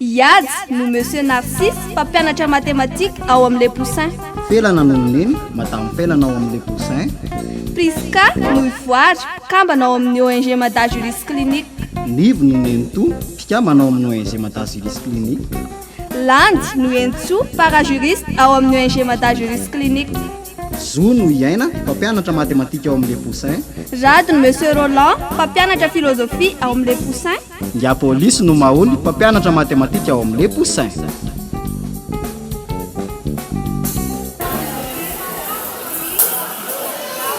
Iazy no Monsieur Narcisse, mpampianatra mathématiques ao amin'ny Le Poussin. Pelana no ny Neny, Madame Pelana ao amin'ny Le Poussin. Prisca, Noivoary, mpikambana ao amin'ny ONG Mada Juris Clinic. Nivo no ny Nenitoa, mpikambana ao amin'ny ONG Mada Juris Clinic. Landy no Henintsoa, para-juriste ao amin'ny ONG Mada Juris Clinic. Zo no i Aina, mpampianatra mathématiques ao amin'ny Le Poussin. Rado no Monsieur Roland, mpampianatra philosophie ao amin'ny Le Poussin. Ingahy polisy no maholy mpampianatra matematika ao amin'ny Les Poussins.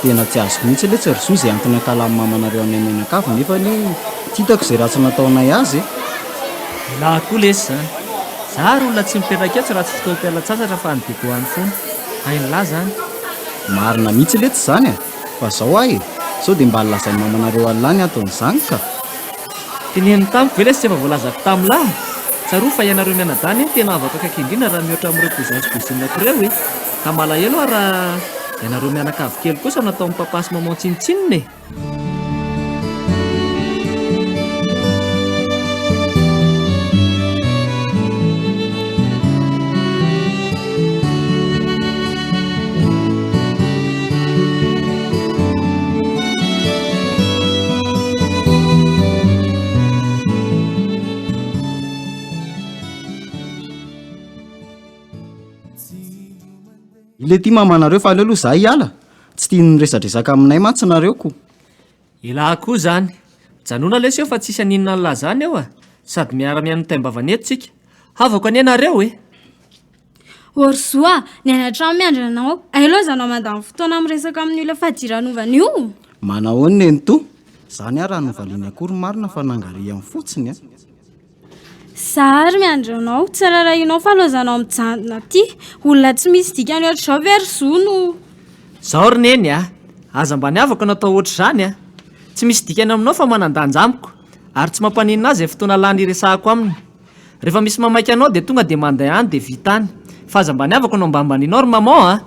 Tena tsy azoko mihitsy le tsy ry zoa izay antony ankalamin'ny mamanareo anay mianakavy nefa anie tsy hitako izay ratsy nataonay azy e. Elah koa lesy zany. Za ary olona tsy mipetraka etsy raha tsy fotoam-pialan-tsasatra fa any Digo any foana. Hain'lah zany. Marina mihitsy letsy izany a! Fa zao ahy e, sao dia mba lazain'ny mamanareo an'lah ny anton'izany ka! Teneniny tamiko ve ilay tsy efa voalazako tamlah? Tsarovy fa ianareo mianadahy anie no tena havako akaiky indrindra raha mihoatra amin'ireo cousins sy cousinako ireo e! Ka malahelo aho raha ianareo mianakavy kely kosa no ataon'ny papa sy maman tsinontsinona e! le ty mamanareo fa aleo aloha za hiala tsy tia nyresadresaka aminay mantsy nareo ko elah koa zany mijanona lesy eo fa tsisy aninona an'lah zany eo a sady miara mihaino ny taim-bavana eto tsika havako anie nareo e Orzo a! Ny any an-trano miandry anao. Aelo aza anao mandany fotoana miresaka amin'ny olona fadiranovana io. Manahoana nenitoa? Izany ary raha novaliany akory marina fa nangarihany fotsiny a! Za ary miandry anao. Tsy rarahianao fa laozanao mijanona aty. Olona tsy misy dikany ohatr'izao ve ry Zo no. Izao ry Neny a! Aza mba niavaka no atao ohatr'izany a! Tsy misy dikany aminao fa manan-danja amiko ary tsy mampaninona ahy izay fotoana lany hiresahako aminy. Refa misy mamaika anao de tonga de manday any de vita any. Fa aza mba niavako no ambanimbanianao ry maman a!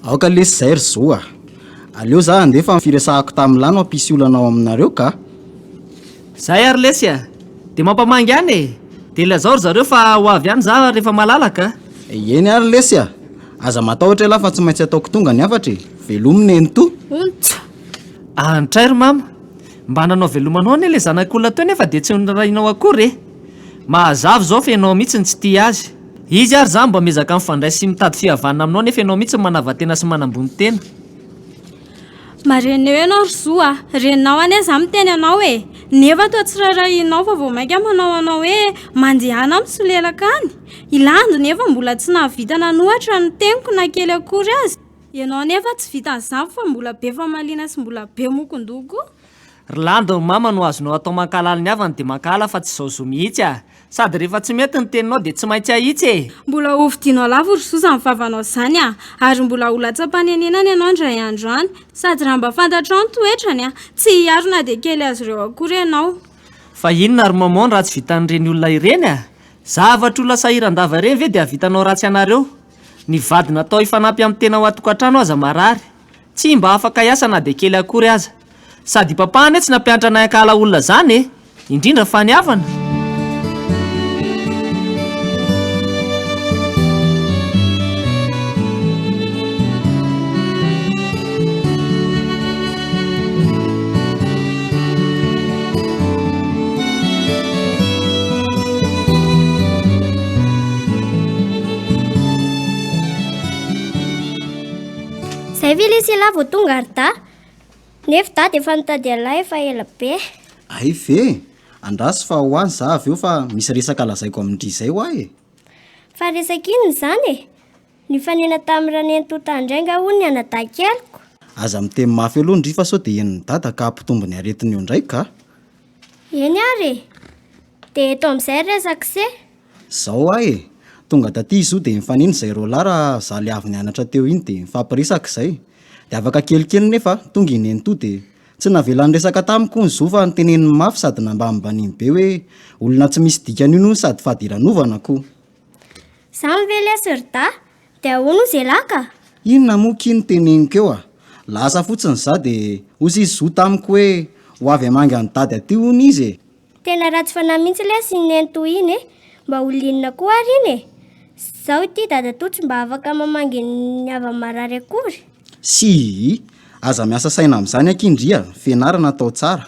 Aoka lesy zay ry zo a! Aleo za handeha fa ny firesahako tamin'i la no hampisy olana ao aminareo ka! Zay ary lesy a! De mampamangy any e! De lazao ry zareo fa ho avy any za refa malalaka a! Eny ary lesy a! Aza matahotra elah fa tsy maintsy ataoko tonga ny hafatra e! Velomy Neny toa! Ontsa! Antray ry mama! Mba nanao velomanao anie ilay zanak'olona teo nefa dia tsy noraharahianao akory e! Mahazava izao fa ianao mihitsy no tsy tia azy. Izy ary izany mba miezaka mifandray sy mitady fihavanana aminao nefa ianao mihitsy no manava-tena sy manambony tena. Mareneo ianao ry Zo a! Reninao anie izaho miteny anao e! Nefa toa tsy raharahianao fa vao mainka manao anao hoe mandehana misolelaka any? I Landy nefa mbola tsy nahavita nanohatra ny teniko na kely akory aza. Ianao anefa tsy vitan'izany fa mbola be famaliana sy mbola be mokondoko. Ry landy ny mama no azonao atao mankahalala ny havany dia mankahala fa tsy izao zo mihitsy a! Sady rehefa tsy mety ny teninao dia tsy maintsy ahitsy e! Mbola ho vidianao lavo ry zo izany vavanao izany a! Ary mbola ho latsam-panenenana ianao indray andro any! Sady raha mba fantatrao ny toetrany a! Tsy hiaro na dia kely azy ireo akory ianao! Fa inona ry maman raha tsy vitan'ireny olona ireny a! Zavatr'olona sahiran-dava ireny ve dia hahavitanao ratsy anareo? Ny vady natao hifanampy amin'ny tena ao an-tokantrano aza marary, tsy mba afaka hiasa na dia kely akory aza. Sady Papa anie tsy nampianatra anay hankahala olona izany e! Indrindra fa ny havana. vao tonga ary da nefa da de efa nitady an'lay efa ela be ay ve andrasy fa ho any za avy eo fa misy resaka lazaiko amin-dry izay ho ahy e fa resaka inona izany e Nifanena tamin'i Ranentonta indray nga hono ny anadahy keliko? Aza miteny mafy aloha ndry fa sao dia henon'i dada ka hampitombo ny aretiny eo ndray ka! Eny ary e! Dia eto amin'izay ny resak'ise. Zao ahy e! Tonga taty izy io dia nifanena izay roa lahy raha za le avy nianatra teo iny dia nifampiresaka izay. Dia afaka kelikely nefa tonga i nenitoa dia tsy navela niresaka tamiko hono zo fa noteneniny mafy sady nambanimbaniany be hoe olona tsy misy dikany hono io sady fadiranovana ko! Zany ve leisy ry dahy? De ahoana hozy elah ka? Inona moa ki no teneniko eo a? Lasa fotsiny za de hozy izy zoa tamiko hoe ho avy hamangy an'i dady aty hono izy e! Tena ratsy fanahy mihitsy leisy iny nenitoa iny e! Mba ho linona koa ary iny e! Zaho ity dadatoa tsy mba afaka mamangy ny havany marary akory! Sii! Aza miasa saina amin'izany akia ndry a! Fianarana atao tsara!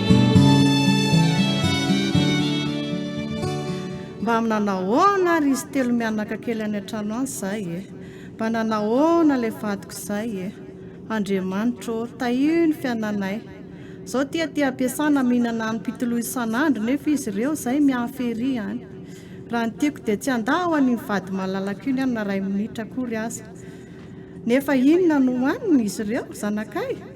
Mba amina nahoana ary izy telo mianaka kely any an-trano any izay e? Mba nanahoana ilay vadiko izay e? Andriamanitra ô, tahio ny fiananay. Izao tia tia be sana mihinana anim-pitoloha isan'andro nefa izy ireo izay mihafa ery any. Raha ny tiako dia tsy handà ho an'iny vady malalako iny aho na iray minitra akory aza. Nefa inona no hohaniny izy ireo, zanakay?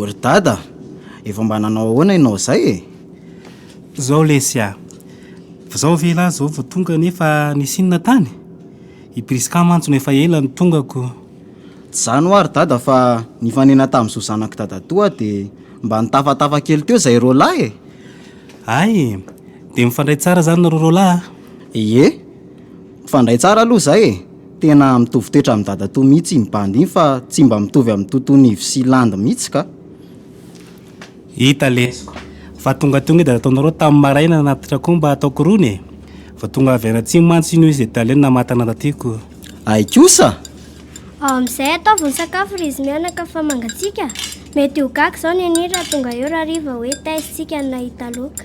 O ry Dada a! Efa mba nanao ahoana ianao izay e? Zao lesy a! Zao ve ialahy zao vao tonga nefa nisy inona tany? I Prisca mantsy no efa ela no tongako. Tsy zany hoa ry Dada fa nifanena tamin'i zo zanak'i Dadatoa dia mba nitafatafa kely teo izay roalahy e! Hay e! Dia mifandray tsara zany nareo roalahy a? Ie! Mifandray tsara aloha zay e! Tena mitovy toetra amin'i dadatoa mihitsy iny bandy iny fa tsy mba mitovy amin'i Totonivo sy Landy mihitsy ka! Hita lesy fa tongatonga i dadatoanareo tamin'ny maraina nanatitra koa mba hataoko rony e! Vao tonga avy any atsimo mantsy iny hoy izy dia tale no namatana taty ko! Hay kosa! Ao amin'izay ataovy ny sakafo ry izy mianaka fa mangatsiaka! Mety ho gaga izao Neny raha tonga eo Rariva hoe taiza isika no nahita loka!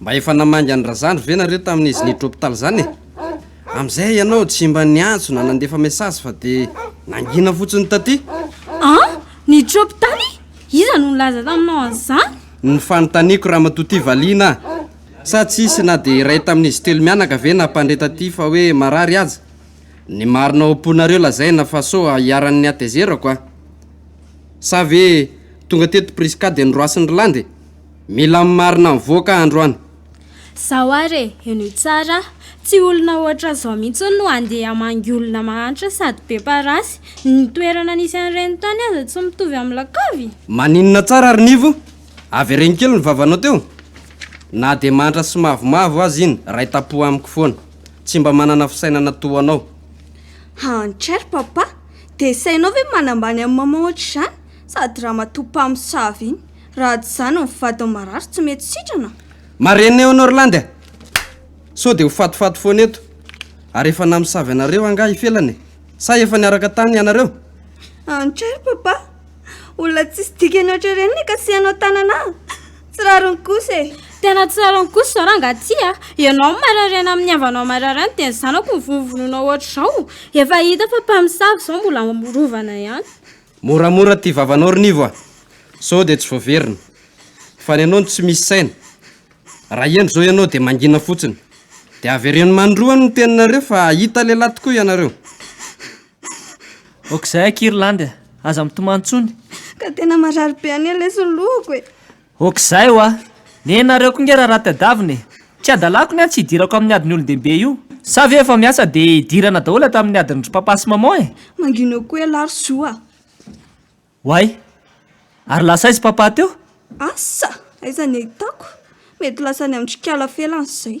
Mba efa namangy an'i Razandry ve nareo tamin'izy niditra hôpital zany e? Amizay ianao tsy mba niantso na nandefa message fa de nangina fotsiny taty. Ah? Niditra hôpital i? Iza no nilaza taminao an'izany? Ny fanontaniako Ramatoa Ty valiana ah. Sa tsy hisy na de iray tamin'izy telo mianaka ve nampandre taty fa hoe marary aza? Ny marina ao am-ponareo lazaina fa sao iharan'ny hatezerako ah. Sa ve tonga teto Prisca de noroasin'i Rland e? Mila ny marina mivoaka androany. Zao ary e, henoy tsara a! Tsy olona ohatra zao mihitsy no handeha hamangy olona mahantra sady be parasy. Ny toerana nisy an'ireny tany aza tsy mitovy amin'ny lakavy. Maninona tsara ry Nivo? Avereno kely ny vavanao teo. Na dia mahantra sy mavomavo aza iny ray tapoha amiko foana. Tsy mba manana fisainana toa anao. Hantra ry Papa! Dia sainao ve manambany an'i Maman ohatr'izany? Sady ramatoa mpamosavy iny. Raha tsy izany ny vadin'i Marary tsy mety sitrana. Marenina eo Norland a! Sao dia ho fatifaty foana eto. Ary efa namosavy anareo angaha i Felana e? Sa efa niaraka tany ianareo? Anch ary Papa! Olona tsisy dikany ohatra ireny ny hikasihanao an-tanana ahy. Tsy rariny kosa e! Tena tsy rariny kosa izao rangahy ity a! Ianao no mararena amin'ny havanao marary any dia ny zanako no vonovonoina ohatra izao. Efa hita fa mpamosavy izao mbola rovana ihany. Moramora ty vavanao ry Nivo a! Sao dia tsy voaverina. Fa ny anao no tsy misy saina. Raha heno izao ianao dia mangina fotsiny. Dia avereno manindroany ny teninareo fa hahita lehilahy tokoa ianareo. Aok'izay akia ry Landy a! Aza mitomany intsony. Ka tena marary be anie lesy ny lohako e! Ok zay wa! Nenareo ko nge raha raha tadiavina e! Tsy adalako ny ahy tsy hidirako amin'ny adin'ny olon-dehibe io! Sa ve efa miasa dia hidirana daholo ato amin'ny adin'ny ry papa sy maman e! Mangina koa ialahy ry zo a! Oay! Ary lasa aiza papa teo? Asa! Aiza ny ahitako? Mety lasa any amin-dry kala felany izay!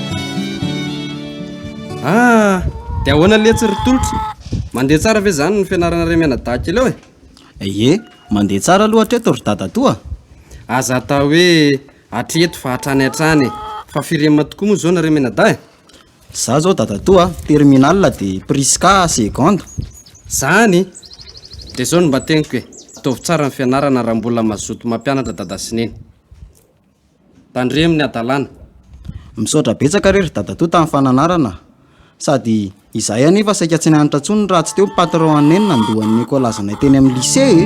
Ah! Dia ahoana letsy ry Tolotra? Mandeha tsara ve izany ny fianaranareo mianadahy kely ao e? Ie, mandeha tsara aloha hatreto ry dadatoa a! Aza atao hoe hatreto fa hatrany hatrany e! Fa firy ema tokoa moa izao nareo mianadahy e? Izaho izao dadatoa a, terminal dia Prisca seconde. Izany? Dia izao no mba teniko e, ataovy tsara ny fianarana raha mbola mazoto mampianatra dada sy neny. Tandremo ny hadalana. Misaotra betsaka re ry dadatoa tamin'ny fananarana sady izahay anefa saika tsy nianatra intsony raha tsy teo ny patron anay no nandoa ny écolage anay teny amin'ny lycée e.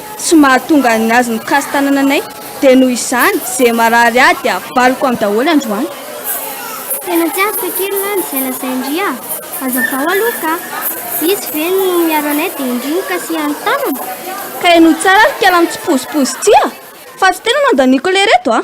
Tsy mahatonga ny azy mikasy tanananay dia noho izany ze marary ahy dia avaloko am daholo androany. Tena tsy azoko akery lah ny zay lazain-dry ah! Hazavao aloha ka! Izy ve no miaro anay dia indry no kasihan ny tanana? Ka ianao tsara ry kala mitsipozipozy ty ah! Fa tsy tena nandaniako lery eto ah!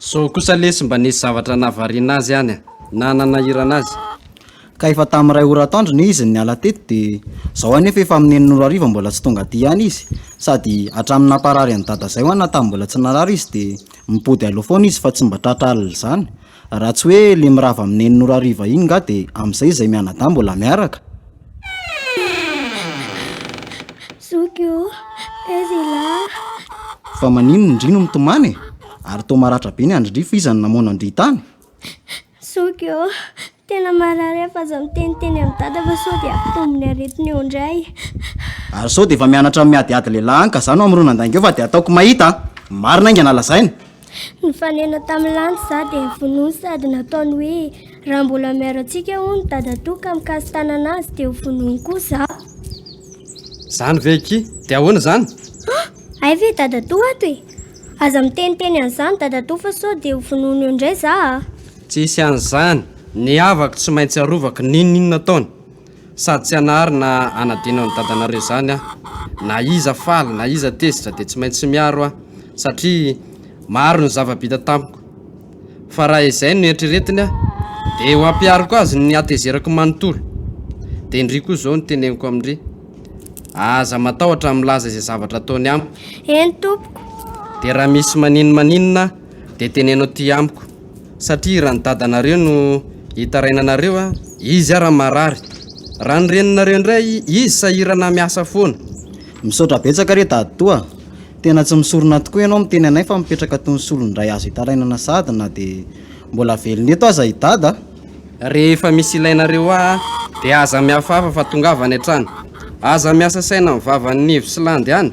Zao kosa lesy mba nisy zavatra nahavariana azy any a! Na nanahirana azy. Ka efa tamin'ny iray ora atoandro ne izy no niala teto dia zao anefa efa amin'ny enin'ora hariva mbola tsy tonga aty ihany izy. Sady hatramin'ny namparary an'i dada zay ho'a na tamin'ny mbola tsy narary izy dia mipody aloha foana izy fa tsy mba tratra alina izany. Raha tsy hoe le mirava am neny nora hariva iny nga de amzay izay mianadahy mbola miaraka? Zoky o! Taiza ialahy? Fa maninona indry no mitomany e? Ary toa maratra be ny andrin-dry fa iza no namono an-dry tany? Zoky o! Tena marary aho fa aza miteniteny amin'i dada fa sao dia hampitombo ny aretiny eo indray. Ary sao dia efa mianatra ny miadiady lehilahy any ka za no hamorona andainga eo fa dia ataoko mahita a! Marina aingana lazaina! Nifanena tamin'ny lanitra izaho dia vonoiny sady nataony hoe raha mbola miaro antsika hono ny dadatoa ka mikasi-tanana azy dia ho vonoiny koa izaho. Izany ve akia? Dia ahoana izany? Ah, hay ve dadatoa ato e! Aza miteniteny an'izany dadatoa fa sao dia ho vonoiny eo indray izaho ah! Tsisy an'izany, ny havako tsy maintsy arovako n'inon'inona ataony. Sady tsy hanary na hanadino an'i dadanareo izany aho. Na iza faly na iza tezitra dia tsy maintsy miaro aho satria maro ny zava-bita tamiko. Fa raha izay no eritreretiny aho dia ho ampihariko azy ny hatezerako manontolo. Dia ndry koa izao no teneniko amin-dry, aza matahotra milaza izay zavatra ataony amiko. Eny tompoko. Dia raha misy maninonmaninona dia teneno aty amiko. satria raha ny dadanareo no hitaraina anareo izy ara marary raha ny reninareo indray izy sahirana miasa foana. Misaotra betsaka re dadatoa, tena tsy misorona tokoa ianao miteny anay fa mipetraka toy ny solon'ny ray azo itarainana sady na dia mbola velona eto aza i dada. Rehefa misy ilainareo ahy dia aza mihafahafa fa tongava any an-trano. Aza miasa saina amin'ny vavan'ny ivy sy landy any.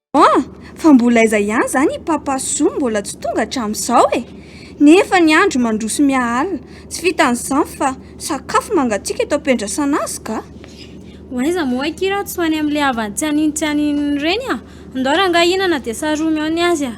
An! Fa mbola aiza ihany izany i Papa Soa mbola tsy tonga hatramin'izao e! Nefa ny andro mandroso miha-alina, tsy vitan'izany fa sakafo mangatsiaka eto am-piandrasana azy ka! Ho aiza moa akia raha tsy ho any amin'ilay havany tsy anino tsy aninony ireny an! Ndao rangahy hihinana dia saromy ao ny azy an!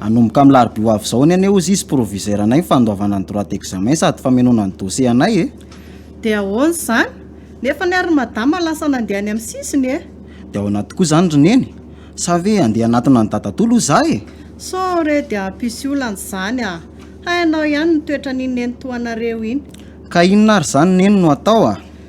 Hanomboka amin'ny larobia ho avy izao ny anay hozy izy proviseur anay ny fandoavana ny droit d'examen sady famenoana ny dossier anay e! Dia ahoana izany? Nefa ny ary ry madama lasa nandeha any amin'ny sisiny e! Dia ahoana tokoa izany ry neny? Sa ve handeha hanatona an'i dadatoa loha za e! Sao re dia hampisy olana izany a! Hainao ihany ny toetran'iny nenitoanareo iny. Ka inona ary izany neny no atao a!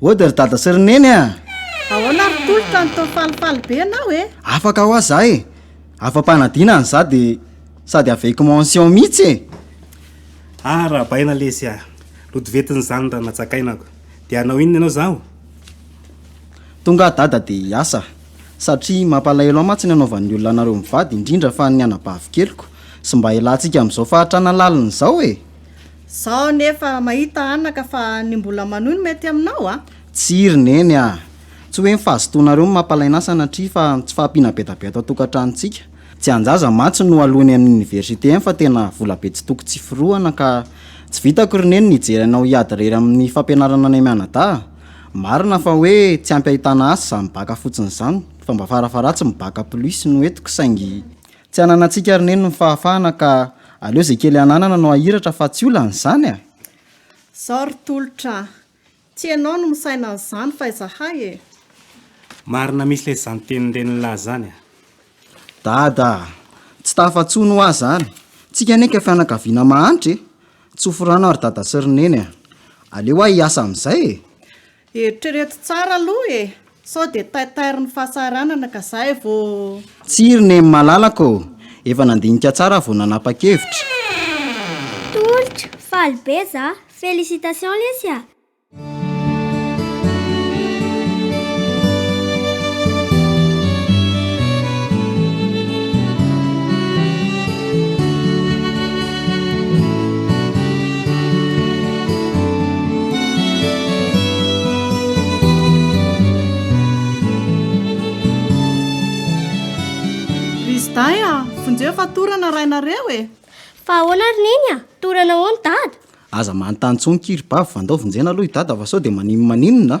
Ody ry dada sy ry neny a! Ahoana ry tolotra no toa falifaly be ianao e? Afaka hoa za e! Afa-panadina ny za dia sady avec mention mihitsy e! Ah Rabaina lesy a! Lodovetin'izany Ranajakainako! Dia hanao inona ianao izao? Tonga aho dada dia hiasa satria mampalahelo ahy mantsy ny hanaovan'ny olona anareo mivady indrindra fa ny anabavikeliko Sy mba ialatsika amin'izao fahatrana lalina izao e! Zaho anefa mahita anaka fa ny mbola manohy no mety aminao a! Tsia ry neny a! Tsy hoe ny fahazotoanareo no mampalaina asa anatria fa tsy fahampiana be da be ato an-tokantranontsika. Tsy an-jaza mantsy no aloany amin'ny oniversite any fa tena vola be tsy toko tsy firohana ka tsy vitako ry neny ny hijery anao hiady irery amin'ny fampianarana anay mianadahy. Marina fa hoe tsy ampy ahitana asa izany bacc fotsiny izany fa mba fara faharatsiny bacc plus no entiko saingy Tsy ananantsika ry neny ny fahafahana ka aleo izay kely ananana no ahiratra fa tsy olana izany a! Zao ry tolotra a! Tsy enao no misaina an'izany fa izahay e! Marina misy lesy zany tenin'ireny lahy zany a! Dada a! Tsy tafatsony hoa zany! Tsika anie ka fianakaviana mahantra e! Tsofo rano ary dada sy ry neny a! Aleo hoa hiasa amin'izay e! Eritrereto tsara aloha e! Sao dia taitairin'ny fahasahiranana ka zay vao. Tsiry neny malalako ô! Efa nandinika tsara aho vao nanapa-kevitra. Tolotra, faly be za. Félicitations lesy a! Riziday a! vonjeo fa torana rainareo e! Fa ahoana ry Neny a! torana hono Dada? Aza manontany intsony ki ry Bavy fa ndao vonjena aloha i Dada fa sao dia maninona maninona a!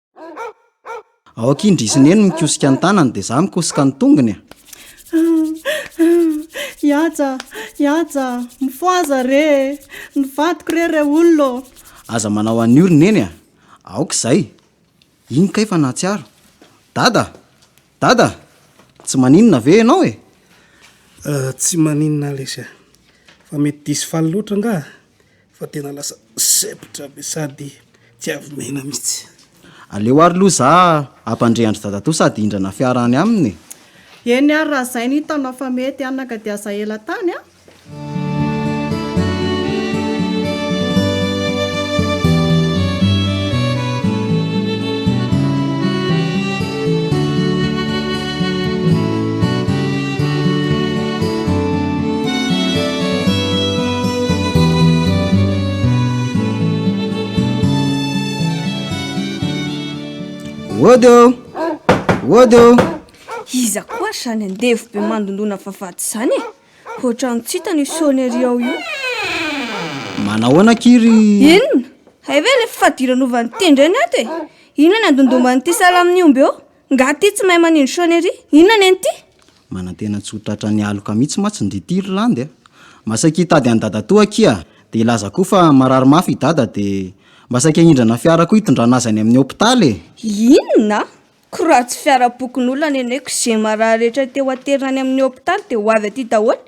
Aoka indry izy neny mikosika ny tanany dia za mikosika ny tongony a. Iaja, iaja, mifoaza re, ny vadiko re re olona. Aza manao an'io ry neny a. Aoka izay. Iny kay fa nahatsiaro. Dada, dada, tsy maninona ve ianao e? Tsy maninona lesy a. Fa mety diso faly loatra angaha? fa tena lasa septra be sady tsy avy maina mitsy. Aleo ary loha za ampandre andry dadatoa sady hindrana fiara any aminy e. Eny ary raha zay no hitanao fa mety hanaka dia aza ela tany a. Wodo! Wodo! Iza koa ary izany andevo be mandondona vavahady izany e? Ohatran'ny tsy hitany io sonnerie ao io. Manahoana akia ry... Inona? Hay ve ilay fifadiranovan'ny tendreny ato e? Inona ny andondoman'ity salan'ny omby eo? Nga ty tsy mahay manindry sonnerie? Inona anie ny ty? Manantena tsy ho tratra ny aloka mitsy matsy ndry ty ry landy a! Mba saika hitady an'i dadatoa akia de hilaza koa fa marary mafy i dada de mba saika hindrana fiara koa hitondrana azy any amin'ny hopitaly e! Inona? Ko raha tsy fiara pokon'olona neneko ze marary rehetra te ho aterina any amin'ny hopitaly de ho avy aty daholo?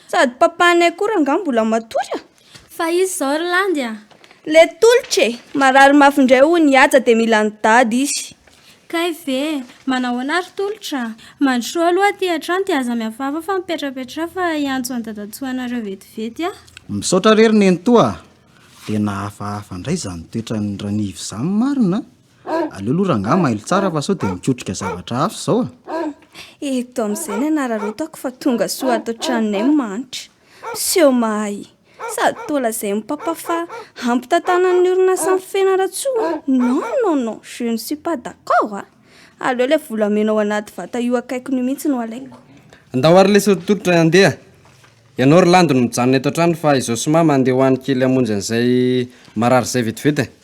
Sady papanay koa rangah mbola matory a! Fa izy izao ry landy a! Le tolotra e! Marary mafy indray hoy ny haja dia mila an'i dada izy. Kay ve! Manahoana ary tolotra? Mandrosoa aloha aty an-trano dia aza miavava fa mipetrapetra fa hiantso an'i dadatsoa anareo vetivety a! Misaotra re ry nenitoa a! Dia nahafahafa indray izany toetran'i Ranivo izany marina a! Aleo aloha rangahy mailo tsara fa sao dia mikotrika zavatra hafa izao a! Eto amin'izay ny anararaotako fa tonga soa ato an-tranonay mahantra. Miseho mahay sady toa lazain'i Papa fa hampitantanan'ny orinasa an'i Fianarantsoa? Non, non, non, je ne suis pas d'accord a! Aleo ilay volamena ao anaty vata io akaikony io mihitsy no alaiko. Ndao ary lesy ry Tolotra e, andeha! Ianao ry Landy no mijanona eto an-trano fa izaho sy Mama andeha ho any kely hamonjy an'izay marary izay vetivety e!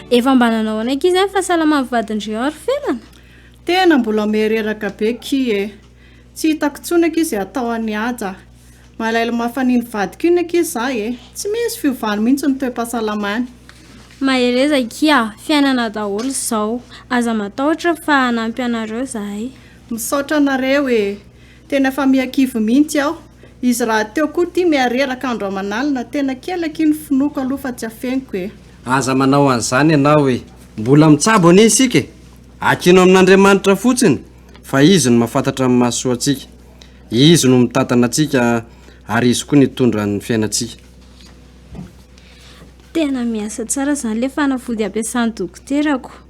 Efa mba nanao anaiky izy any fa salama ny vadin-dry ao ry felana? Tena mbola ome reraka be ki e! Tsy hitako tsony akia ze atao an'i Haja. Malaelo mafy an'iny vadiko iny akia za e! Tsy misy fiovany mihitsy ny toe-pahasalamany. Mahereza akia a! Fiainana daholo izao. Aza matahotra fa hanampy anareo zahay. Misaotra anareo e! Tena fa miha-kivy mihitsy aho. Izy rahateo koa ity miha-reraka andro aman'alina, tena kely akia ny finoako aloha fa tsy afeniko e. Aza manao an'izany ianao e! Mbola mitsabo anie isika e! Akino amin'Andriamanitra fotsiny fa Izy no mahafantatra ny mahasoa antsika. Izy no mitantana antsika ary Izy koa no hitondra ny fiainantsika. Tena miasa tsara izany ilay fanafody ampiasan'ny dokoterako.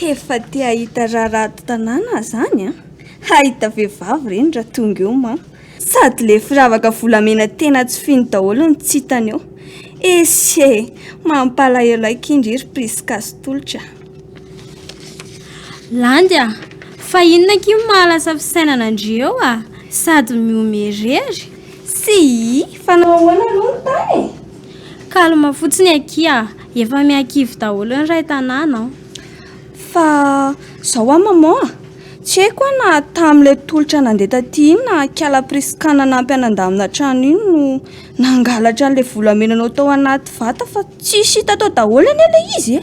Efa te hahita raharaha ato tanàna zany an! Hahita vehivavy reny raha tonga eo ma! Sady le firavaka volamena tena tsy fino daholo ny tsy hitany eo. Esy e! Mampalahelo ahy kindry i ry Prisca sy Tolotra. Landy a! Fa inona akia no maha lasa fisainana an-dry eo a! Sady mihomehy irery. Sii! Fa nanao ahoana aloha ny tany e? Calme fotsiny akia. Efa miankivy daholo ny ray tanàna an! Fa zao an maman a! Tsy haiko an na tamin'ilay tolotra nandeha taty iny na ankiala Prisca nanampy anandamina trano iny no nangalatra an'ilay volamenanao tao anaty vata fa tsisy hita tao daholo anie ilay izy e!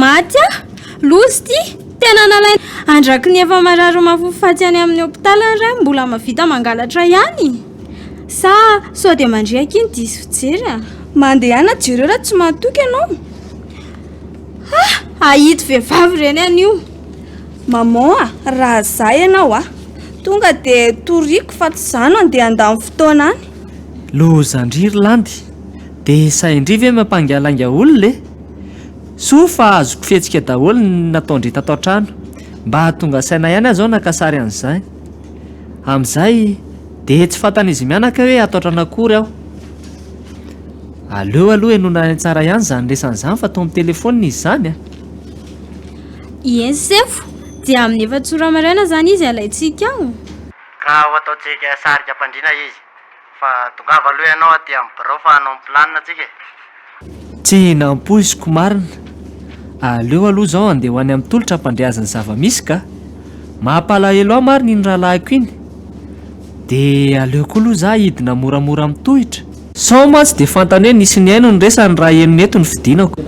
Maty aho! Loza ity! Tena nalaina andraky ny efa marary mafy faty any amin'ny hopitaly ny ray mbola mahavita mangalatra ihany! Sa sao dia mandriaka iny diso fijery a? Mandehana jereo raha tsy mahatoky ianao. Ha! Ahito vehivavy ireny anio. Maman a, raha za ianao a, tonga dia toriako fa tsy za no andeha handany fotoana any. Lozan-dry ry Landy, dia sahin-dry ve mampangialainga olona e? Soa fa azoko fihetsika daholo ny nataon-dry tato an-trano. Mba tonga saina ihany aho izao naka sary an'izany. Amin'izay dia tsy fantan'izy mianaka hoe hataotrany akory aho. Aleo aloha henoina any an-tsara ihany izany resany izany fa toa mitelefaonina izy izany a! Ieny sefo, dia amin'ny efats'ora maraina izany izy alaintsika ao? Ka ho ataontsika sarika am-pandriana izy. Fa tongava aloha ianao aty amin'ny birao fa hanao ny planina tsika e! Tsy nampoiziko marina. Aleo aloha izao andeha ho any amin'ny tolotra hampandre azy ny zava-misy ka! Mampalahelo ahy marina iny rahalahiko iny. Dia aleo koa aloha izaho hidina moramora amin'ny tohitra. Sao mantsy dia fantany hoe nisy nihaino ny resany raha henony eto ny fidinako.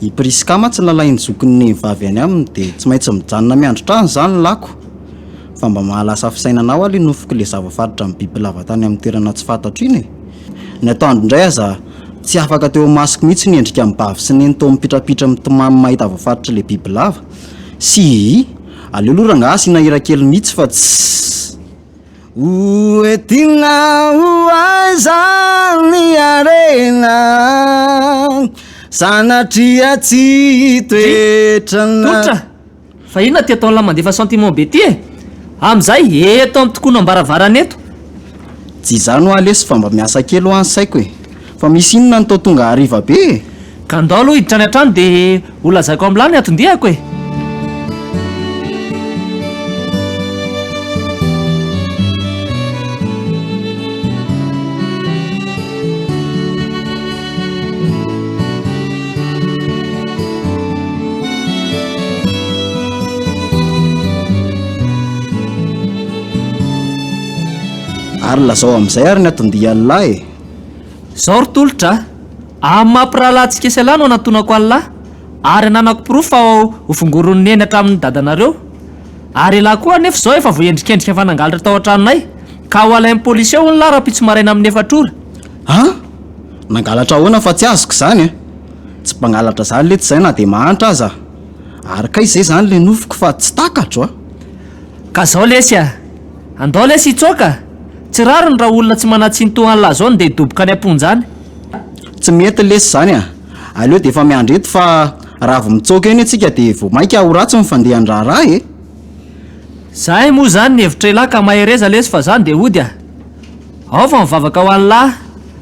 I Priska mantsy nalain'ny zokin'ny nenivavy any aminy dia tsy maintsy mijanona miandry trano izany lako fa mba mahalasa fisainana ao alo i nofiko ilay zava-faritra nibibilava tany amin'ny toerana tsy fantatro iny e! Ny atoandro indray aza tsy afaka teo imasoko mihitsy ny endrika an'i Bavy sy Neny toa mipitrapitra mitomany mahita zava-faritry ilay bibilava. Sihihih! Aleo aloha rangahy asiana hira kely mihitsy fa tsy. Ho entina ho aiza ny harena Sanatria tsy toetrana Tolotra! Fa inona ty ataon'la mandefa sentiment be ty e! Amin'izay eto amin'ny tokoan'ambaravaran'eto! Tsy izany hoa lesy fa mba miasa kely hoa ny saiko e! Fa misy inona no toa tonga hariva be e? Ka ndao aloha hiditra any an-trano dia ho lazaiko amin'lah ny anton-diako e! Ary lazao amin'izay ary ny anton-dian'lah e! Izao ry tolotra a! Amin'ny maha mpirahalahintsika sy Allah no anantonako Allah ary ananako porofo fa ho vongorin'i Neny hatramin'ny dadanareo. Ary elah koa anefa izao efa voaendrikendrika fa nangalatra tao an-tranonay ka ho alain'ny polisy hono lah rahampitso maraina amin'ny efatra ora. An! Nangalatra ahoana fa tsy azoko izany e! Tsy mpangalatra izany letsy izay na dia mahantra aza. Ary kay izay izany ilay nofiko fa tsy takatro a! Ka izao lesy a! Andao lesy hitsoaka! Tsy rariny raha olona tsy manantsintoa anlah zao no ndeha hidoboka any amponja any. Tsy mety lesy zany a! Aleo dia efa miandry eto fa raha avy mitsoaka eny antsika dia vao maika ho ratsy ny fandehan'ny raharaha e! Zahay moa zany ny hevitrailah ka mahereza lesy fa zany dia hody a! Ao fa mivavaka ho anlah.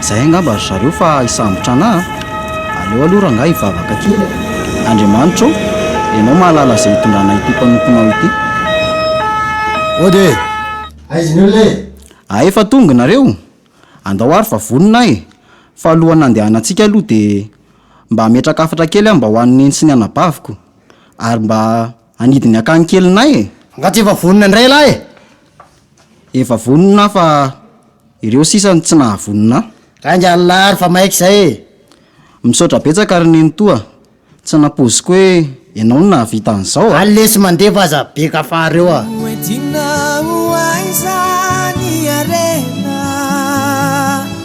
Izay angamba ry zareo fa hisambotra anà a! Aleo aloha rangahy hivavaka aty. Andriamanitra ô! Ianao mahalala izay hitondranà ity mpanomponao ity. Ody e! Aiza ny olona e? A efa tonga nareo? Andao ary fa vonona e! Fa alohan'ny nandehanantsika aloha dia mba ametraka hafatra kely aho mba ho an'i Neny sy ny anabaviko. Ary mba. Hanidiny akany kelinay e! Angaha tsy efa vonona indray ialahy e! Efa vonona aho fa ireo sisa no tsy nahavonona ahy. Gainga ialahy ary fa maika izay e! Misaotra betsaka ry neny toa tsy nampoiziko hoe ianao no nahavita an'izao a! Any lesy mandefa aza be kafareo a! Ho entina ho aiza ny harena?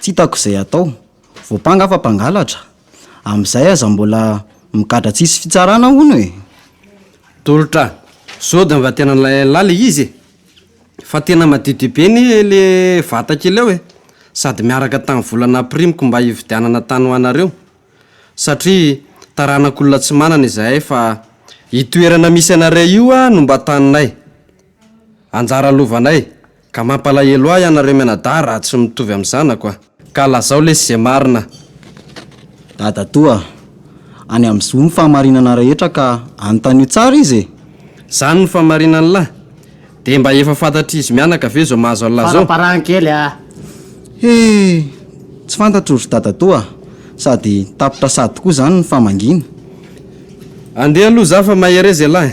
Tsy hitako izay hatao. Voampanga fa mpangalatra. Amin'izay aza mbola migadra tsisy fitsarana hono e! Tolotra, zao dia mba tena nilailalilay le izy e! Fa tena madiodio be anie le vata kely ao e! Sady miaraka tamin'ny vola nampirimiko mba hividianana tany ho anareo. Satria taranak'olona tsy manana izahay fa io toerana misy anareo io no mba taninay. Anjara lovanay, ka mampalahelo ahy ianareo mianadahy raha tsy mitovy amin'ny zanako a! Ka lazao lesy izay marina. Dadatoa a! Any amin'ny zo ny fahamarinana rehetra ka anontanio tsara izy e! Izany no fahamarinan'lah! Dia mba efa fantatr'izy mianaka ve izao mahazo an'lah izao? Faraparahany kely a! He! Tsy fantatro ry dadatoa a! Sady tapitra sady koa izany ny famangiana. Andeha aloha za fa mahereza ialahy.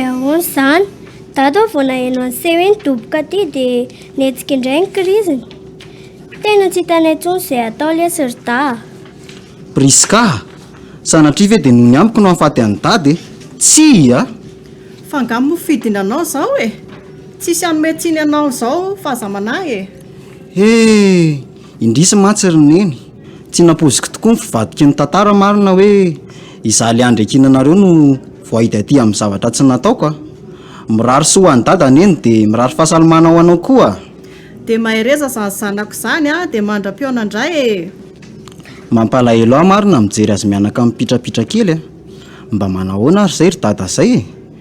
Ahoana izany? Daty aho vao naheno an'ise hoe nidoboka aty dia nihetsika indray ny kiriziny. Tena tsy hitanay intsony izay hatao lesy ry Dahy a! Prisca a! Sanatria ve dia noho ny amiko no hahafaty an'i Dada e? Tsia a! Fa angaha moa fidiny anao izao e? Tsisy hanome tsiny anao izao fa aza manahy e! He! Indrisy mantsy ry Neny, tsy nampoiziko tokoa ny fivadiky ny tantara marina hoe izaho ilay andry ankinanareo no voahidy aty amin'ny zavatra tsy nataoko a! Mirary soa ho an'i Dada Neny dia mirary fahasalamana ho anao koa a! Dia mahereza izany zanako izany a! Dia mandra-pihaona indray e! Mampalahelo ahy marina mijery azy mianaka mipitrapitra kely a! Mba manahoana ary izay ry Dada izay e!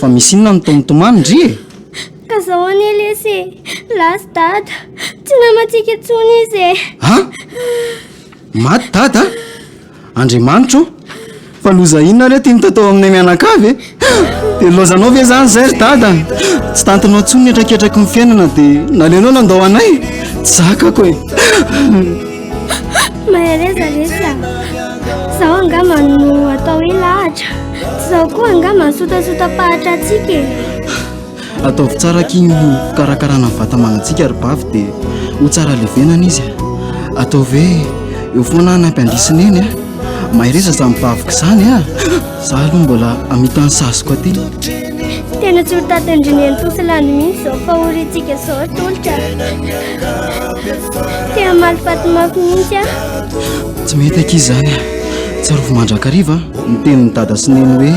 Fa misy inona no toa mitomany ndry e? Ka zao anie lesy e! Lasa dada! Tsy namantsika intsony izy e! Ha? Maty dada? Andriamanitra o! Fa loza inona re ity no tatao aminay mianakavy e? Dia nilaozanao ve izany izay ry dada? Tsy tantinao intsony ny hetraketraky ny fiainana dia naleonao nandao anay? Tsy zakako e! Mahereza lesy a. Zao angamba no atao hoe lahatra. Zao koa angamba ny sotasota-pahatra antsika e. Ataovy tsara aky ny fikarakarana ny vata amanantsika ry bavy dia ho tsara levenana izy. Ataovy hoe eo foana ny ampiandrisy neny a. Mahereza izany baviko izany a. Za aloha mbola amita ny saziko aty. Tena tsy ho tatin-dry neny Tosilany mihitsy zao fahoriantsika zao atolotra. Te hamaly fatimako mihitsy aho. Tsy mety akia izany. Tsarovy mandrakariva ny tenin'ny dada sy neny hoe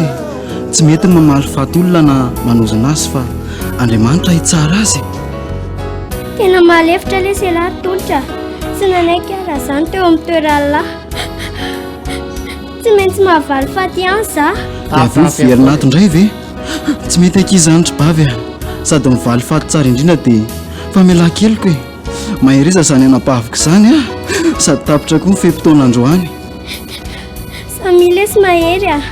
tsy mety ny mamaly faty olona na manozona azy fa Andriamanitra hitsara azy. Tena malefitra lesy ialahy tolotra. Tsy nanaiky aho raha izany teo amin'ny toeran'Allah. Tsy maintsy mahavaly faty ihany za. Avy eo velona ato indray ve? Tsy mety akia izany ry bavy a. Sady mivaly faty tsara indrindra dia famelan-keloka e. Maheriza izany anabaviko izany ah. Sady tapitra koa ny fe-potoana androany. Samilesy mahery ah.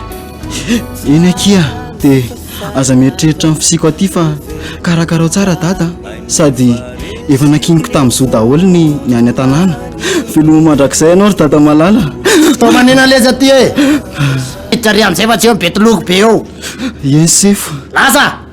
Eny akia dia aza mieritreritra ny fisiko aty fa karakarao tsara dada sady efa nakiniko tamin'izao daholo ny ny any an-tanàna. Veloma mandrakizay ianao ry dada malala. Tao manena leza aty e. Eh. Hiditra ry amin'izay fa tsy eo ny betology be eo. Eny sefo. Laza!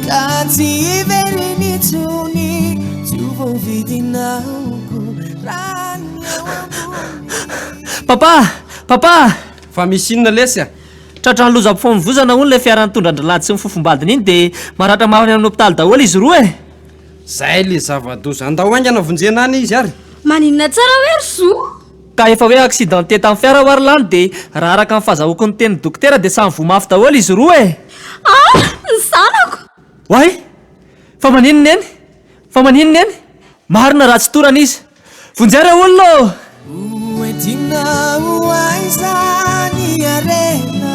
Ka tsy hiverina intsony tsy ho voavidinao ko raha ny eo ambony Papa! Papa! Fa misy inona lesy a? Tratran'ny lozam-pifamoivozana hono ilay fiara nitondra an-dry Lady sy ny fofombadiny iny dia maratra mafy any amin'ny hopitaly daholo izy roa e! Zay le zava-doza. Andao haingana vonjena any izy ary. Maninona tsara hoe ry Zo? Ka efa hoe accidenté tamin'ny fiara ho'a ry lany dia raha araka ny fazahoako ny tenin'ny dokotera dia samy voa mafy daholo izy roa e! Ah! ny zanako! Oay! Fa maninn neny? Fa maninn neny? Marina raha tsy torana izy! Vonjeo re olona ô! Hoentinao aiza ny harena?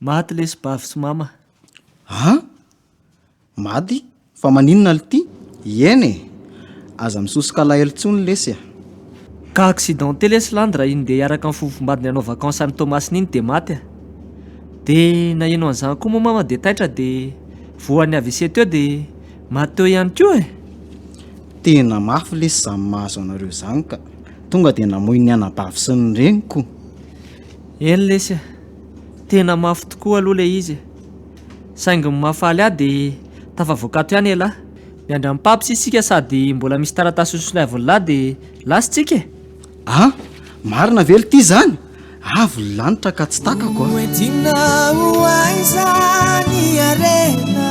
Maty lesy Bavy sy Mama. A! Maty? Fa maninona lty? Ieny e! Aza misosoka alahelo tsony lesy a! Ka accidenté lesy Landy raha iny ndeha hiaraka amin'ny fofombadiny hanao vacances any Toamasina iny dia maty a! Dia naheno an'izany koa moa Mama dia taitra dia voan'ny avc teo dia maty teo ihany koa e! Tena mafy lesy izany mahazo anareo izany ka! Tonga dia namoy ny anabavy sy ny reniko! Eny lesy a! Tena mafy tokoa aloha ilay izy e! Saingy ny mahafaly ahy dia tafavoaka ato ihany elah! Miandry an'i Paps isika sady mbola misy taratasy nosolaivin-lah dia lasintsika e! A! Marina ve lty izany? Avo ny lanitra ka tsy takako a! Hoentina ho aiza ny harena?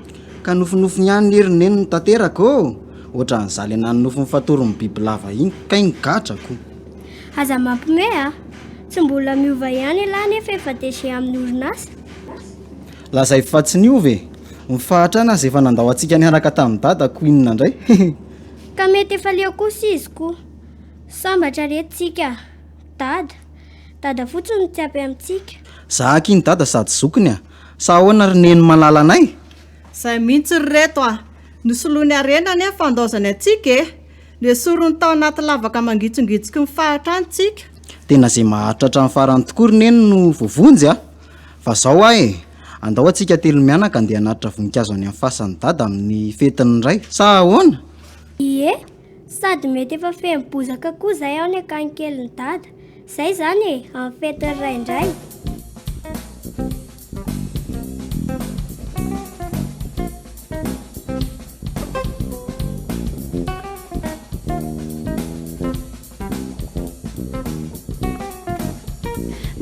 Ka nofinofiny ihany ny herin'ny neniny tanteraka ô! Ohatran'ny za le nanonofy ny fatoron'ny bibilava iny kay ny gadrako! Aza mampime a! Tsy mbola miova ihany elah nefa efa DG amin'ny orinasa! Lazaivo fa tsy niova e! Ny fahatrana aza efa nandao antsika niaraka tamin'i Dada ko inona indray hehe! Ka mety efa leo kosa izy ko! Sambatra re tsika! Dada! Dada fotsiny no tsy ampy amintsika! Za aky iny Dada sady zokiny a! Sa ahoana ry neny malalanay? Zay mihintsy ry reto a! Nosoloiny harena anie ny fandaozany antsika e! Nesoriny tao anaty lavaka mangitsongitsiky ny fahatra any tsika. Tena zay maharitra hatramin'ny farany tokoa ry neny no voavonjy a! Fa zao a e! Andao antsika telo mianaka andeha hanatitra voninkazo any amin'ny fasan'i dada amin'ny fetin'ny ray. Sa ahoana? Ie, Sady mety efa feno bozaka koa zay ao ny akany kelin'i dada. Zay zany e, amin'ny fetin'ny ray indray.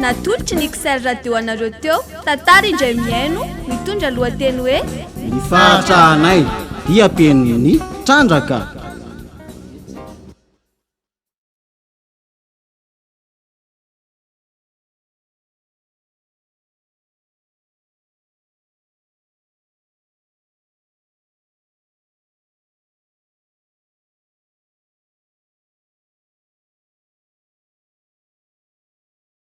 Natolotry ny XL Radio anareo teo. Tantara indray mihaino mitondra lohateny hoe Ny fahatrahanay dia pen'ny trandraka.